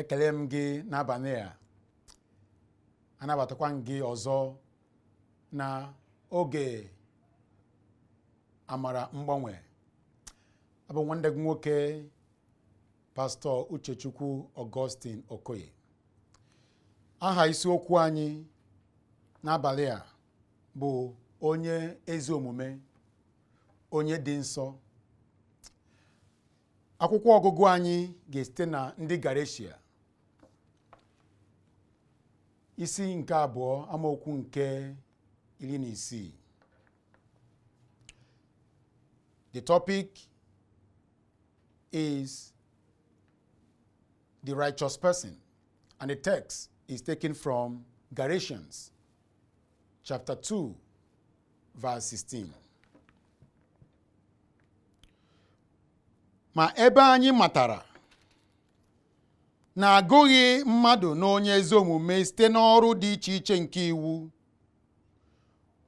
ekele m gị n'abalị a anabatakwa m gị ọzọ na oge amara mgbanwe abụ nwanne gị nwoke pastọ uchechukwu augustine okoye aha isiokwu anyị n'abalị a bụ onye ezi omume onye dị nsọ akwụkwọ ọgụgụ anyị ga-esite na ndị Galeshia isi nke abụọ amaokwu nke iri na isii the topic is the righteous person and the text is taken from Galatians chapter 2 verse 16 ma ebe anyị matara na agụghị mmadụ na onye ezi omume site n'ọrụ dị iche iche nke iwu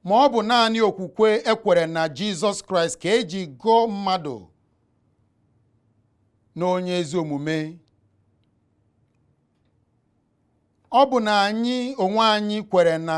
ma ọ bụ naanị okwukwe e kwere na Jizọs Kraịst ka e ji gụọ mmadụ na onye ezi omume ọbụna anyị onwe anyị kwere na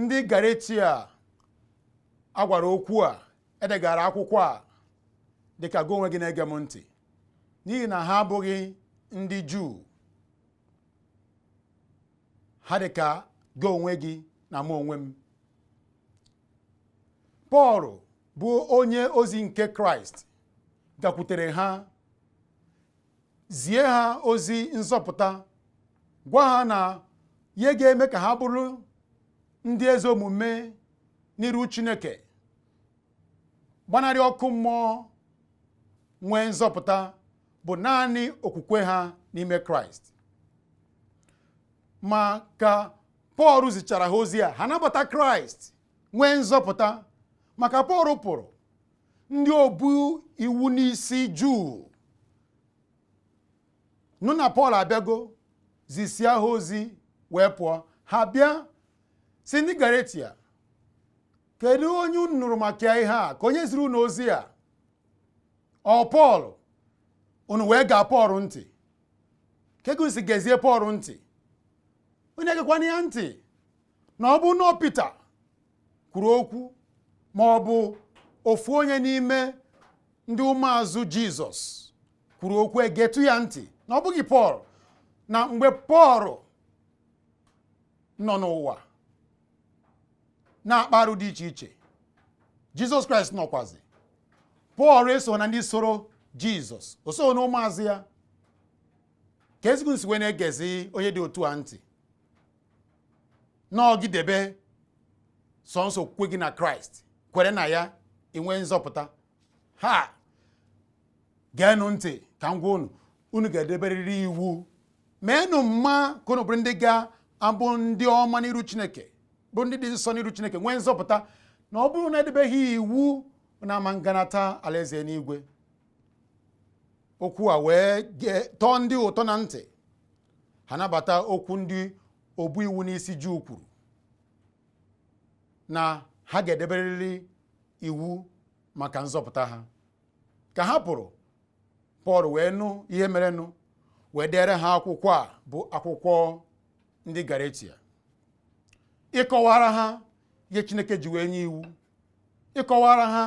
ndị Galeshia a gwara okwu a e degara akwụkwọ a dịka gị onwe gị na-ege m ntị n'ihi na ha abụghị ndị Juu ha dịka gị onwe gị na mụ onwe m Pọl bụ onye ozi nke Kraịst gakwutere ha zie ha ozi nzọpụta gwa ha na ihe ga-eme ka ha bụrụ ndị ezi omume n'iru Chineke gbanarị ọkụ mmụọ nwee nzọpụta bụ naanị okwukwe ha n'ime Kraịst ma ka Pọl zichara ha ozi a ha nabata Kraịst nwee nzọpụta ma ka Pọl pụrụ ndị obu iwu n'isi juu nụ na pọl abịago zisia ha ozi wee pụọ ha bịa sị ndị galeshia kedu onye unu nụrụ maka ihe a ka onye ziri unu ozi a ọ pọl unu wee gee pọl ntị kee ka unu si gezie pọl ntị onye egekwana ya ntị na ọ bụ n'ọ pita kwuru okwu ma ọ bụ ofu onye n'ime ndị ụmụazụ jizọs kwuru okwu e getụ ya ntị na ọ bụghị pọl na mgbe pọl nọ n'ụwa na-akpa arụ dị iche iche jizọs kraịst nọkwazi pọl eso na ndị soro jizọs o so na ụmụazụ ya kezi ka unu si wee na-egezi onye dị otu a ntị na ọ gị debe sọọsọ okwukwe gị na kraịst kwere na ya i nwee nzọpụta ha geenụ ntị ka m gwa unu unu ga-edeberịrị iwu meenụ mma ka unu bụrụ ndị ga-abụ ndị ọma n'iru chineke bụ ndị dị nsọ n'iru chineke nwee nzọpụta na ọ bụrụ na e debeghị iwu na ama nganata alaeze enuigwe okwu a wee tọọ ndị ụtọ na ntị ha nabata okwu ndị obu iwu n'isi Juu kwuru na ha ga-edeberịrị iwu maka nzọpụta ha ka ha pụrụ Pọl wee nụ ihe merenụ wee dere ha akwụkwọ a bụ akwụkwọ ndị Galatia ịkọwara ha ihe Chineke ji wee nye iwu ịkọwara ha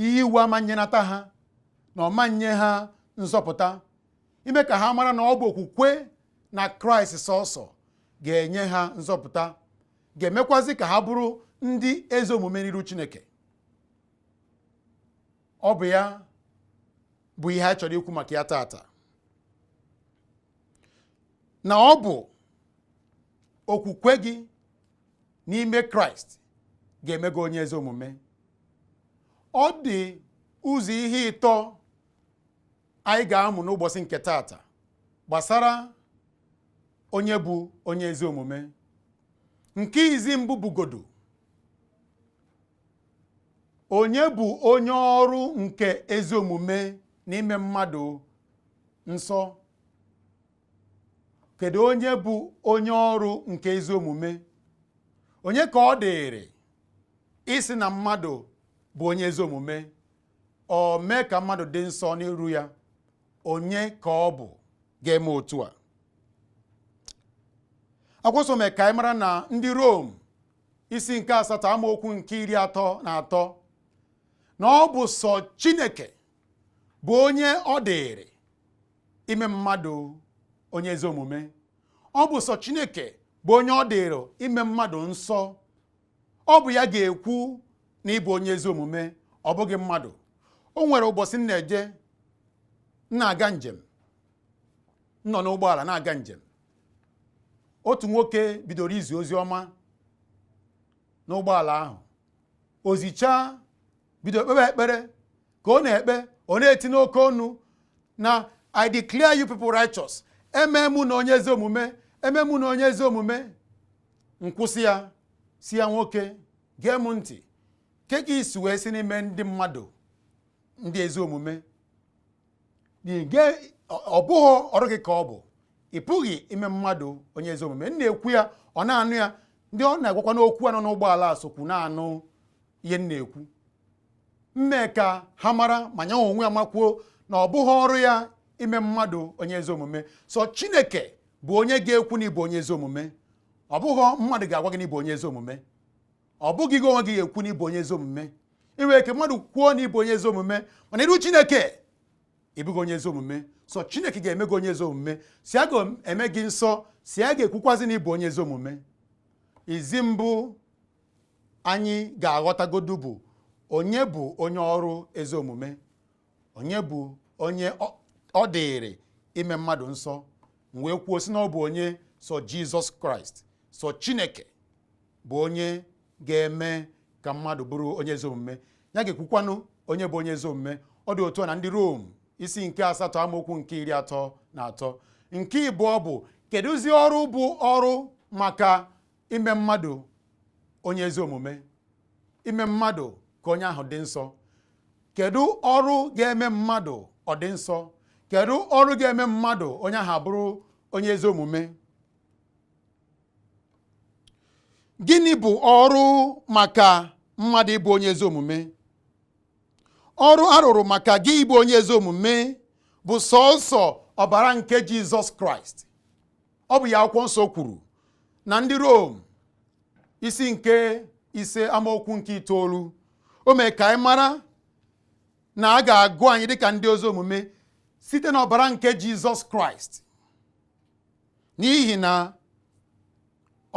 ihe iwu ama nyenata ha na ọ ma nye ha nzọpụta ime ka ha mara na ọ bụ okwukwe na kraịst sọsọ ga-enye ha nzọpụta ga-emekwazi ka ha bụrụ ndị ezi omume n'iru chineke ọ bụ ya bụ ihe a chọrọ ikwu maka ya tata na ọ bụ okwukwe gị n'ime kraịst ga-eme gị onye ezi omume ọ dị ụzọ ihe ịtọ anyị ga-amụ n'ụbọchị nke taata gbasara onye bụ onye ezi omume nke izi mbụ bụgodu onye bụ onye ọrụ nke ezi omume na ime mmadụ nsọ kedu onye bụ onye ọrụ nke ezi omume onye ka ọ dịrị ịsị na mmadụ bụ onye ezi omume or mee ka mmadụ dị nsọ n'iru ya onye ka ọ bụ ga-eme otu a akwụkwọ nsọ mee ka anyị mara na ndị Rom isi nke asatọ amaokwu nke iri atọ na atọ na ọ bụ sọ Chineke bụ onye ọ dịrị ime mmadụ onye ezi omume ọ bụ sọ Chineke bụ onye ọ dịrị ime mmadụ nsọ ọ bụ ya ga-ekwu na ị bụ onye ezi omume ọ bụghị mmadụ o nwere ụbọchị m na-eje na-aga njem nọ n'ụgbọala na-aga njem otu nwoke bidoro izi ozi ọma n'ụgbọala ahụ o zichaa bido kpebe ekpere ka ọ na-ekpe ọ na-eti n'oke ọnụ na i declare you people righteous emee m ụnụ onye ezi omume emee m ụnụ onye ezi omume m kwụsị ya sị ya nwoke gee m ntị kee ka i si wee sị na i mee ndị mmadụ ndị ezi omume ọ bụghị ọrụ gị ka ọ bụ ị pụghị ime mmadụ onye ezi omume m na-ekwu ya ọ na-anụ ya ndị ọ na-agwakwanụ okwu a nọ n'ụgbọala sokwu na-anụ ihe m na-ekwu m mee ka ha mara ma ya onwe ya makwuo na ọ bụghị ọrụ ya ime mmadụ onye ezi omume sọ chineke bụ onye ga-ekwu na ị bụ onye ezi omume ọ bụghị mmadụ ga-agwa gị na ị bụ onye ezi omume ọ bụghị gị onwe gị ga-ekwu na ị bụ onye ezi omume i nwere ike mmadụ kwuo na ị bụ onye ezi omume ma n'iru chineke ị bụghị onye ezi omume sọ chineke ga-eme gị onye ezi omume sọ ya ga-eme gị nsọ sọ ya ga-ekwukwazi na ị bụ onye ezi omume izi mbụ anyị ga-aghọtagodu bụ onye bụ onye ọrụ ezi omume onye bụ onye ọ dịịrị ime mmadụ nsọ m wee kwuo sị na ọ bụ onye sọ jizọs kraịst sọ chineke bụ onye ga-eme ka mmadụ bụrụ onye ezi omume ya ga-ekwukwanụ onye bụ onye ezi omume ọ dị otu a na ndị rom isi nke asatọ amaokwu nke iri atọ na atọ nke ịbụọ bụ kedụzi ọrụ bụ ọrụ maka ime mmadụ onye ezi omume ime mmadụ ka onye ahụ dị nsọ kedu ọrụ ga-eme mmadụ ọ dị nsọ kedu ọrụ ga-eme mmadụ onye ahụ abụrụ onye ezi omume gịnị bụ ọrụ maka mmadụ ịbụ onye ezi omume ọrụ a rụrụ maka gị ịbụ onye ezi omume bụ sọọsọ ọbara nke Jizọs Kraịst ọ bụ ya akwụkwọ nsọ kwuru na ndị Rom isi nke ise amaokwu nke itoolu o mee ka anyị mara na a ga-agụ anyị dịka ndị ezi omume site n'ọbara nke Jizọs Kraịst n'ihi na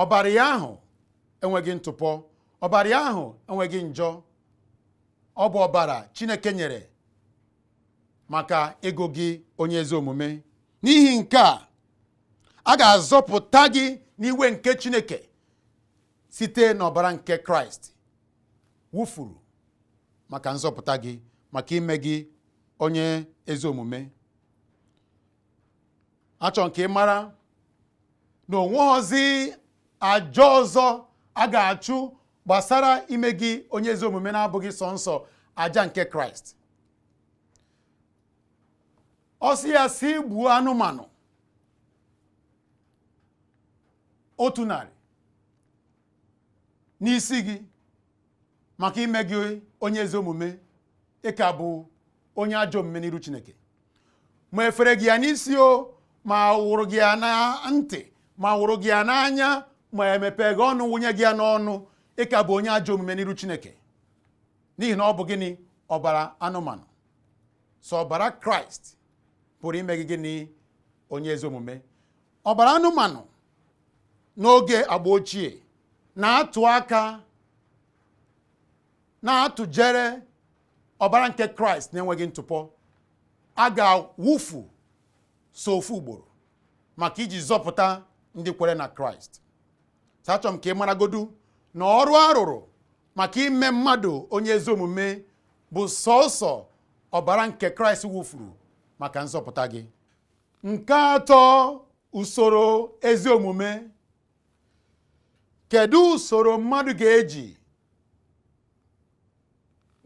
ọbara ya ahụ enweghị ntụpọ ọbara ya ahụ enweghị njọ ọ bụ ọbara Chineke nyere maka ịgụ gị onye ezi omume n'ihi nke a a ga-azọpụta gị n'iwe nke Chineke site n'ọbara nke Kraịst wụfuru maka nzọpụta gị maka ime gị onye ezi omume achọrọ m ka ị mara na onweghọzi aja ọzọ a ga-achụ gbasara ime gị onye ezi omume na-abụghị sọnsọ aja nke Kraịst ọ sị ya sị gbuo anụmanụ otu narị n'isi gị maka ime gị onye ezi omume ị ka bụ onye ajọ omume n'iru Chineke ma efere gị ya n'isi o ma wụrụ gị ya na ntị ma wụrụ gị ya n'anya ma emepe gị ọnụ wụnye gị ya n'ọnụ ị ka bụ onye ajọ omume n'iru Chineke n'ihi na ọ bụ gịnị ọbara anụmanụ sọ ọbara kraịst pụrụ ime gị gịnị onye ezi omume ọbara anụmanụ n'oge agba ochie na-atụ aka na-atụjere ọbara nke kraịst na-enweghị ntụpọ a ga-awụfu sọ ofu ugboro maka iji zọpụta ndị kwere na kraịst achọrọ m ka ị maragodu na ọrụ arụrụ maka ime mmadụ onye ezi omume bụ sọọsọ ọbara nke kraịst wụfuru maka nzọpụta gị nke atọ usoro ezi omume kedu usoro mmadụ ga-eji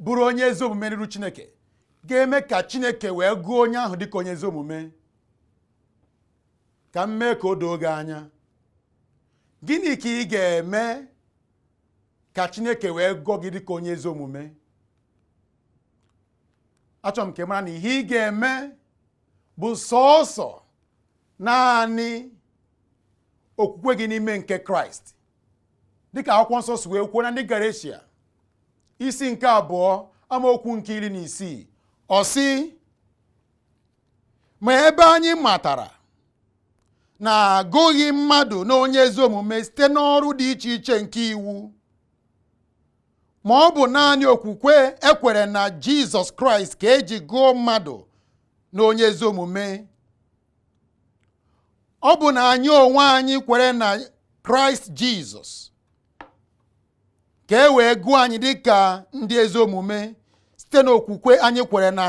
bụrụ onye ezi omume n'iru chineke ga-eme ka chineke wee gụọ onye ahụ dịka onye ezi omume ka m mee ka o doo gị anya gịnị ka ị ga-eme ka chineke wee gụọ gị dịka onye ezi omume achọrọ m ka ị mara na ihe ị ga-eme bụ sọọsọ naanị okwukwe gị n'ime nke kraịst dịka akwụkwọ nsọ si wee kwuo na ndị Galeshia isi nke abụọ amaokwu nke iri na isii ọ sị ma ebe anyị matara na agụghị mmadụ na onye ezi omume site n'ọrụ dị iche iche nke iwu ma ọ bụ naanị okwukwe ekwere na Jizọs Kraịst ka eji gụọ mmadụ na onye ezi omume ọbụna anyị onwe anyị kwere na Kraịst Jizọs ka e wee gụọ anyị dị ka ndị ezi omume site n'okwukwe anyị kwere na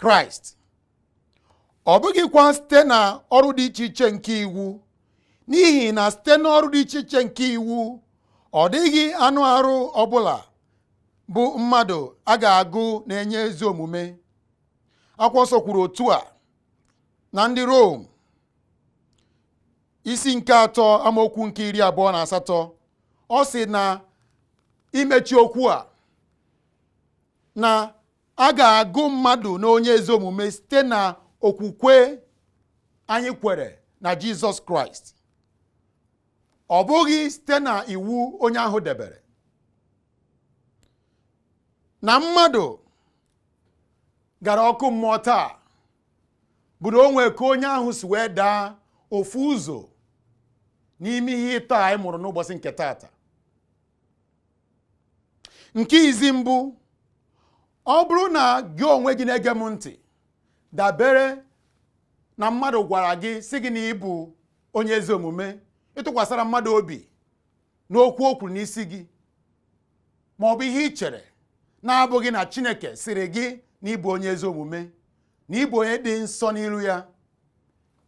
kraịst ọ bụghịkwa site na ọrụ dị iche iche nke iwu n'ihi na site n'ọrụ dị iche iche nke iwu ọ dịghị anụ arụ ọbụla bụ mmadụ a ga-agụ na onye ezi omume akwụkwọ nsọ kwuru otu a na ndị Rom isi nke atọ amaokwu nke iri abụọ na asatọ ọ sị na imechi okwu a na a ga-agụ mmadụ na onye ezi omume site na okwukwe anyị kwere na Jizọs Kraịst ọ bụghị site na iwu onye ahụ debere na mmadụ gara ọkụ mmụọ taa bụ na o nwee ka onye ahụ si wee daa ofu ụzọ n'ime ihe ịtọ anyị mụrụ n'ụbọsị nke taata nke izi mbụ ọ bụrụ na gị onwe gị na-ege m ntị dabere na mmadụ gwara gị sị gị na ị bụ onye ezi omume ị tụkwasara mmadụ obi n'okwu o kwuru n'isi gị ma ọ bụ ihe ị chere na-abụghị na Chineke sịrị gị na ị bụ onye ezi omume na ị bụ onye dị nsọ n'iru ya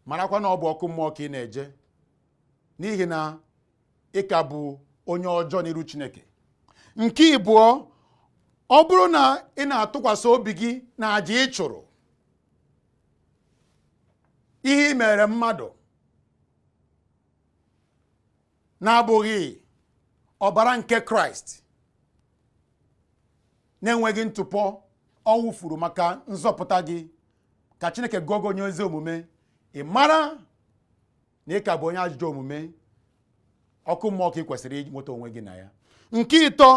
marakwa na ọ bụ ọkụ mmụọ ka ị na-eje n'ihi na ị ka bụ onye ọjọọ n'iru Chineke nke ịbụọ ọ bụrụ na ị na-atụkwasị obi gị na aja ị chụrụ ihe ị mere mmadụ na-abụghị ọbara nke kraịst na-enweghị ntụpọ ọ wụfuru maka nzọpụta gị ka chineke gụọ gị onye ezi omume ị mara na ị ka bụ onye ajọ omume ọkụ mmụọ ka ị kwesịrị inweta onwe gị na ya nke ịtọ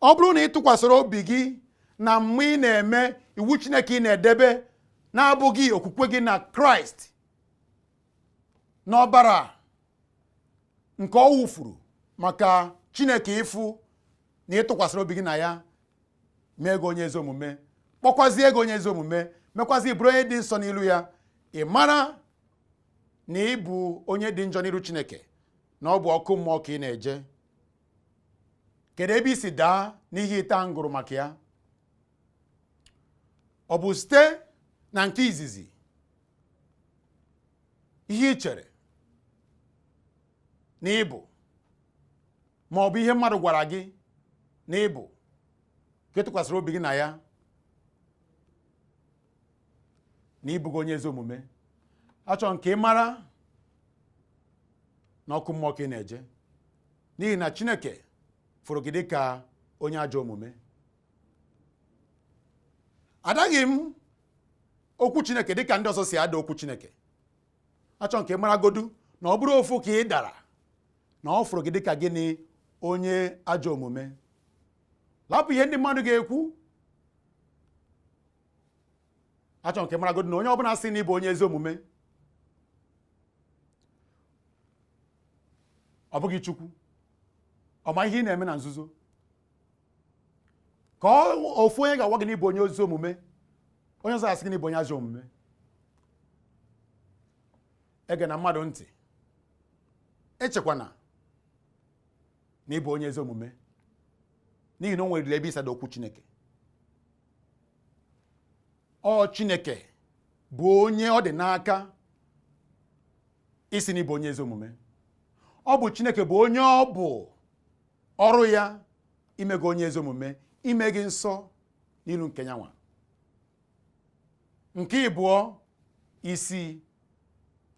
ọ bụrụ na ị tụkwasịrị obi gị na mma ị na-eme iwu chineke ị na-edebe na-abụghị okwukwe gị na kraịst n'ọbara nke ọ wụfuru maka chineke ịfụ na ị tụkwasịrị obi gị na ya mee gị onye ezi omume kpọkwazie gị onye ezi omume mekwazie ị bụrụ onye dị nsọ n'ilu ya ị mara na ị bụ onye dị njọ n'iru chineke na ọ bụ ọkụ mmụọ ka ị na-eje kedu ebe i si daa n'ihe ịtọ a m gụrụ maka ya ọ bụ site na nke izizi ihe ị chere na ị bụ ma ọ bụ ihe mmadụ gwara gị na ị bụ ka ị tụkwasịrị obi gị na ya na ị bụghị onye ezi omume achọ m ka ị mara na ọkụ mmụọ ka ị na-eje n'ihi na Chineke fụrụ gị dịka onye ajọ omume adaghị m okwu chineke dịka ndị ọzọ si ada okwu chineke achọ m ka ị maragodu na ọ bụrụ ofu ka ị dara na ọ fụrụ gị dịka gịnị onye ajọ omume lapụ ihe ndị mmadụ ga-ekwu achọ m ka ị maragodu na onye ọbụla sị na ị bụ onye ezi omume ọ bụghị chukwu ọ ma ihe ị na-eme na nzuzo ka ofu onye ga-agwa gị na ị bụ onye ezi omume onye ọzọ asị gị na ị bụ onye ajọ omume egena mmadụ ntị echekwana na ị bụ onye ezi omume n'ihi na o nwere ebe i si ada okwu Chineke ọ Chineke bụ onye ọ dị n'aka ịsị na ị bụ onye ezi omume ọ bụ Chineke bụ onye ọ bụ ọrụ ya ime gị onye ezi omume ime gị nsọ n'ilu nke nyanwa nke ịbụọ isi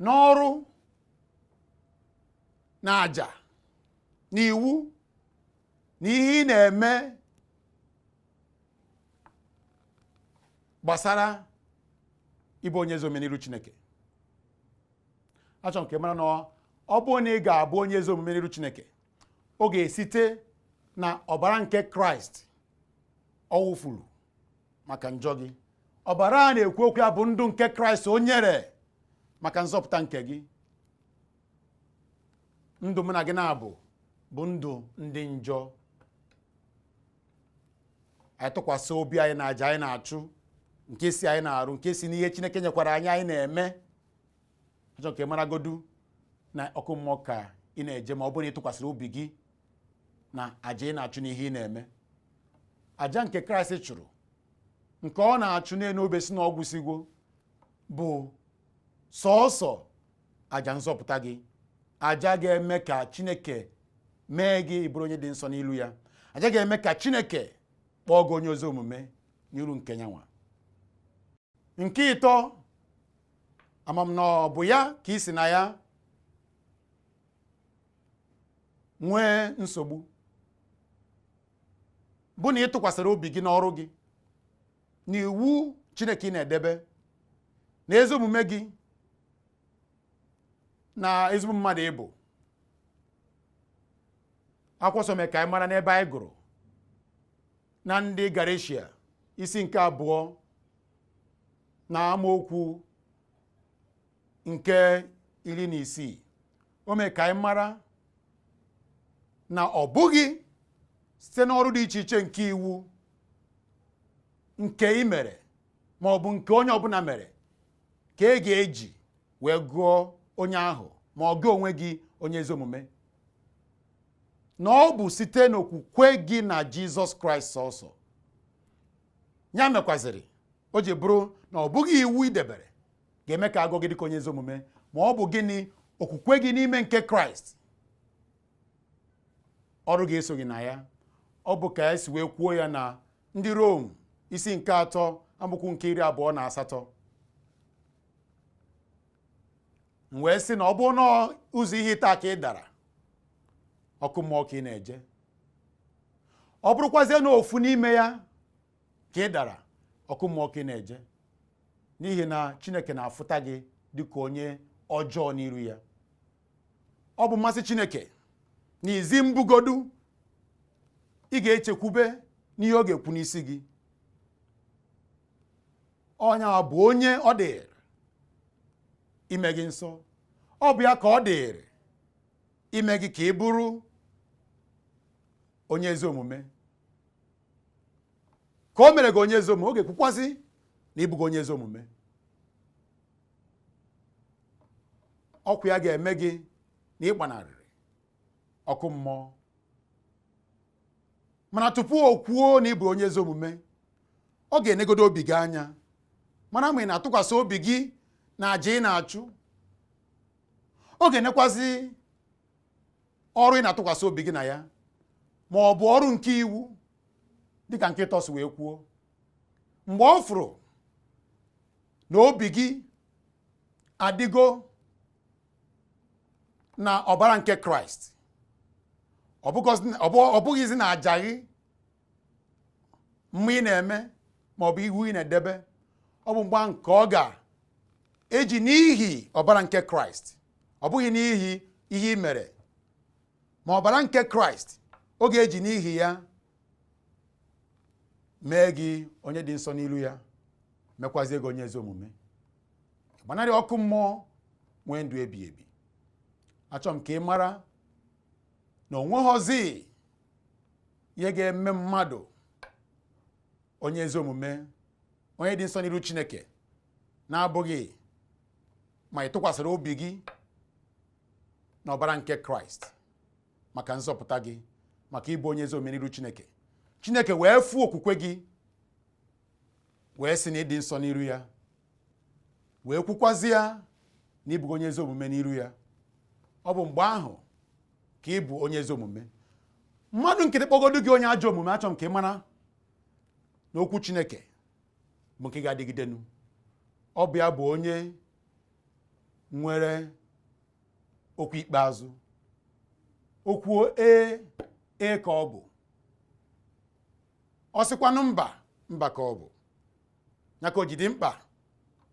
n'ọrụ na aja na iwu na ihe ị na-eme gbasara ịbụ onye ezi omume n'ilu Chineke achọ m ka ị mara na ọ bụ na ị ga-abụ onye ezi omume n'iru chineke ọ ga-esite na ọbara nke kraịst ọ wụfuru maka njọ gị ọbara a na-ekwu okwu ya bụ ndụ nke kraịst o nyere maka nzọpụta nke gị ndụ mụ na gị na-abụ bụ ndụ ndị njọ anyị tụkwasị obi anyị na aja anyị na-achụ nke si anyị na-arụ nke si n'ihe chineke nyekwara anyị anyị na-eme achọ m ka ị maragodu na ọkụ mmụọ ka ị na-eje ma ọ bụrụ na ị tụkwasịrị obi gị na aja ị na-achụ n'ihe ị na-eme aja nke kraịst chụrụ nke ọ na-achụ n'elu obe sị na ọ gwụsịgo bụ sọọsọ aja nzọpụta gị aja ga-eme ka chineke mee gị ị bụrụ onye dị nsọ n'ilu ya aja ga-eme ka chineke kpọọ gị onye ezi omume n'iru nke nyanwa nke ịtọ ama m na ọ bụ ya ka i si na ya nwee nsogbu bụ na ị tụkwasịrị obi gị n'ọrụ gị na iwu Chineke ị na-edebe na ezi omume gị na ezigbo mmadụ ị bụ akwụkwọ nsọ mee ka anyị mara n'ebe anyị gụrụ na ndị Galeshia isi nke abụọ na amaokwu nke iri na isii o mee ka anyị mara na ọ bụghị site n'ọrụ dị iche iche nke iwu nke ị mere ma ọ bụ nke onye ọbụla mere ka e ga-eji wee gụọ onye ahụ ma ọ gị onwe gị onye ezi omume na ọ bụ site n'okwukwe gị na jizọs kraịst sọsọ ya mekwaziri o ji bụrụ na ọ bụghị iwu i debere ga-eme ka a gụọ gị dịka onye ezi omume ma ọ bụ gịnị okwukwe gị n'ime nke kraịst ọrụ gị esoghị na ya ọ bụ ka e si wee kwuo ya na ndị rom isi nke atọ amaokwu nke iri abụọ na asatọ m wee sị na ọ bụ n'ụzọ ihe atọ a ka ị dara ọkụ mmụọ ka ị na-eje ọ bụrụkwazie na ofu n'ime ya ka ị dara ọkụ mmụọ ka ị na-eje n'ihi na chineke na-afụta gị dịka onye ọjọọ n'iru ya ọ bụ mmasị chineke na izi mbụ godu ị ga-echekwube n'ihe ọ ga-ekwu n'isi gị ọ yanwa bụ onye ọ dịịrị ime gị nsọ ọ bụ ya ka ọ dịịrị ime gị ka ị bụrụ onye ezi omume ka o mere gị onye ezi omume ọ ga-ekwukwazi na ị bụgo onye ezi omume okwu ya ga-eme gị na ị gbanarịrị ọkụ mmụọ mana tupu o kwuo na ị bụ onye ezi omume ọ ga-enegodo obi gị anya mara ma ị na-atụkwasị obi gị na aja ị na-achụ ọ ga-enekwazi ọrụ ị na-atụkwasị obi gị na ya ma ọ bụ ọrụ nke iwu dịka nke ịtọ si wee kwuo mgbe ọ fụrụ na obi gị adịgo na ọbara nke kraịst ọ bụghịzi na aja gị mma ị na-eme maọbụ iwu ị na-edebe ọ bụ mgba nke ọ ga-eji n'ihi ọbara nke kraịst ọ bụghị n'ihi ihe ị mere ma ọbara nke kraịst ọ ga-eji n'ihi ya mee gị onye dị nsọ n'ilu ya mekwazie gị onye ezi omume gbanarị ọkụ mmụọ nwee ndụ ebi ebi achọ m ka ị mara na o nweghọzi ihe ga-eme mmadụ onye ezi omume onye dị nsọ n'iru Chineke na-abụghị ma ị tụkwasịrị obi gị n'ọbara nke Kraịst maka nzọpụta gị maka ịbụ onye ezi omume n'iru Chineke Chineke wee fụ okwukwe gị wee sị na ị dị nsọ n'iru ya wee kwukwazi ya na ị bụ onye ezi omume n'iru ya ọ bụ mgbe ahụ ka ị bụ onye ezi omume mmadụ nkịtị kpọgodu gị onye ajọ omume achọ m ka ị mara na okwu chineke bụ nke ga-adịgidenu ọ bụ ya bụ onye nwere okwu ikpeazụ o kwuo ee ee ka ọ bụ ọ sịkwanụ mba mba ka ọ bụ ya ka o ji dị mkpa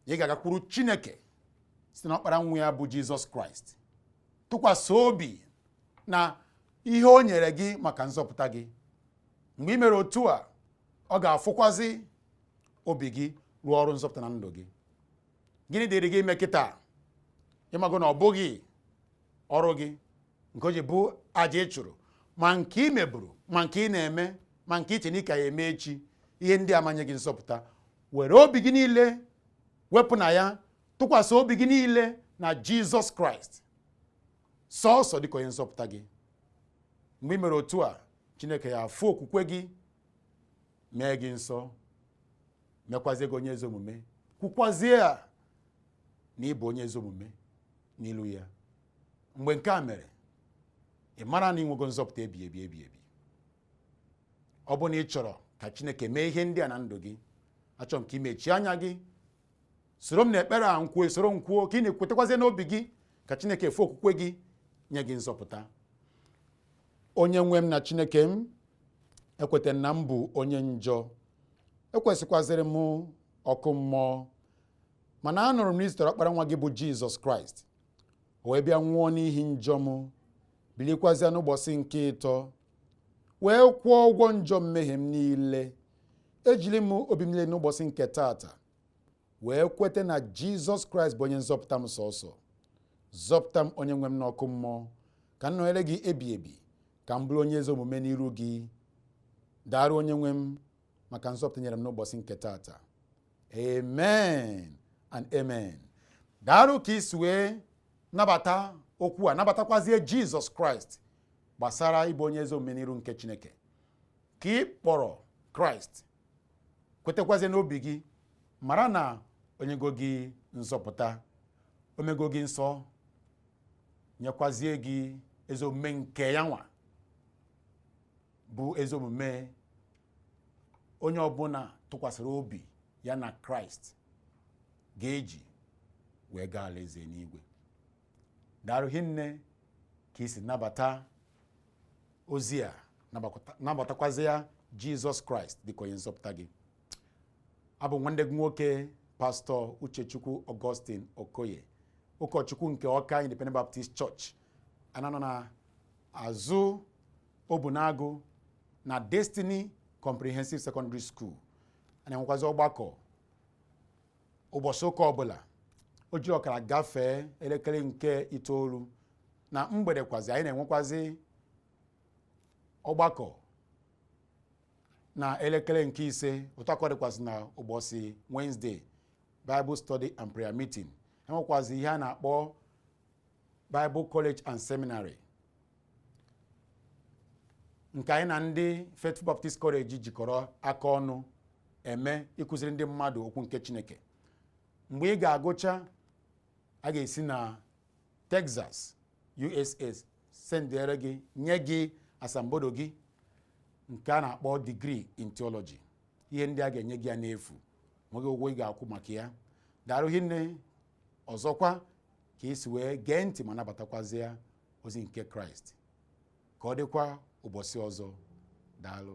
na ị ga-agakwuru chineke site na ọkpara nwa ya bụ jizọs kraịst tụkwasị obi na ihe o nyere gị maka nzọpụta gị mgbe ị mere otu a ọ ga-afụkwazi obi gị rụọ ọrụ nzọpụta na ndụ gị gịnị dịrị gị ime kịta ị mago na ọ bụghị ọrụ gị nke o ji bụ aja ị chụrụ ma nke ị meburu ma nke ị na-eme ma nke i che na ị ka ya eme echi ihe ndị a ama nye gị nzọpụta were obi gị niile wepụ na ya tụkwasị obi gị niile na jizọs kraịst sọọsọ dịka onye nzọpụta gị mgbe ị mere otu a chineke ya afụ okwukwe gị mee gị nsọ mekwazie gị onye ezi omume kwukwazie a na ị bụ onye ezi omume n'ilu ya mgbe nke a mere ị mara na i nwego nzọpụta ebi ebi ebi ebi ọ bụ na ị chọrọ ka chineke mee ihe ndị a na ndụ gị achọ m ka i mechie anya gị soro m na ekpere a m kwuo soro m kwuo ka ị na-ekwetakwazie n'obi gị ka chineke fụ okwukwe gị nye gị nzọpụta onye nwe m na chineke m ekweta m na m bụ onye njọ ekwesịkwazịrị m ọkụ mmụọ mana anụrụ m na i zitere ọkpara nwa gị bụ jizọs kraịst o wee bịa nwụọ n'ihi njọ m bilikwazịa n'ụbọchị nke ịtọ wee kwụọ ụgwọ njọ mmehie m niile ejiri m obi m niile n'ụbọchị nke taata wee kwete na jizọs kraịst bụ onye nzọpụta m sọsọ zọpụta m onye nwe m n'ọkụ mmụọ ka m nọnyere gị ebi ebi ka m bụrụ onye ezi omume n'iru gị daarụ onye nwe m maka nzọpụta nyere m n'ụbọchị nke taata amen and amen daarụ ka i si wee nabata okwu a nabatakwazie jizọs kraịst gbasara ịbụ onye ezi omume n'iru nke chineke ka ị kpọrọ kraịst kwetakwazie n'obi gị mara na o nyego gị nzọpụta o mego gị nsọ nyekwazie gị ezi omume nke ya nwa bụ ezi omume onye ọbụla tụkwasịrị obi ya na kraịst ga-eji wee gaa alaeze n'igwe daarụ hinne ka i si nabata ozi a nabatakwazịa jizọs kraịst dịka onye nzọpụta gị abụ m nwanne gị nwoke pastọ uchechukwu augustine okoye ụkọchukwu nke ọka independent baptist church a na-anọ na azụ Obunagu na Destiny Comprehensive Secondary School a na-enwekwazi ọgbakọ ụbọchị ụka ọbụla o ji ọkara gafee elekere nke itoolu na mgbedekwazi anyị na-enwekwazi ọgbakọ na elekere nke ise otu a ka ọ dịkwazi na ụbọchị Wednesday Bible Study and Prayer Meeting e nwekwazi ihe a na-akpọ Bible College and Seminary nke anyị na ndị Faithful Baptist College jikọrọ aka ọnụ eme ịkụziri ndị mmadụ okwu nke Chineke mgbe ị ga-agụcha a ga-esi na Texas USA sendere gị nye gị asambodo gị nke a na-akpọ degree in theology ihe ndị a ga-enye gị ya n'efu nweghị ụgwọ ị ga-akwụ maka ya daarụ hinne ọzọkwa ka i si wee gee ntị ma nabatakwazie ozi nke kraịst ka ọ dịkwa ụbọchị ọzọ daalụ